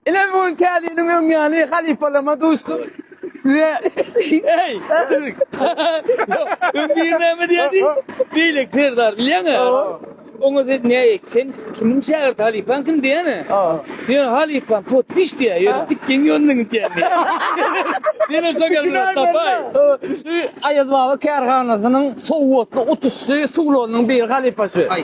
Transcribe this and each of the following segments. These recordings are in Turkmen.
Ine bu gün Kazinin öň yani halifalama duşdum. Size Ey! Öň bir näme diýdi? Beýlek serdar bilýäňä? Oňa sen ne sen kimiň şägirdi halifaň kim diýene? Diýen halifaň potdiş diýä. Ýöne tikgen ýolundan gidýän diýä. Diýene şogerler tapay. Şu Aýaz baba kärhanasynyň sowatly utuşly suwlarynyň biri halifasy.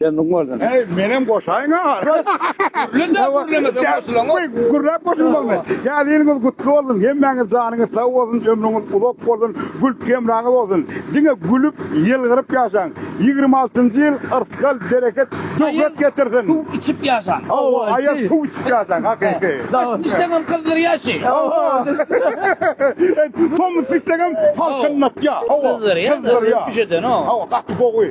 Kendiň bolsun. Hey, menem goşaýyn ha. Gürlende gürleme goşulan. Hey, gürläp goşulmaly. Ya ýylyňyz gutly bolsun. Hemmäňiz janyňyz sag bolsun, ömrüňiz uzak bolsun, gül hemraňyz bolsun. Diňe gülüp, ýylgyryp ýaşaň. Ýigrimi altynjy ýyl yrsgal, bereket, döwlet getirsin. Suw içip ýaşaň. Hawa, aýa suw içip ýaşaň, hakyky. Daşyny dişleňem gyzdyr ýaşy. Tomus dişleňem salkynlatýa. Hawa, gyzdyr ýa. Hawa, gaty gowy.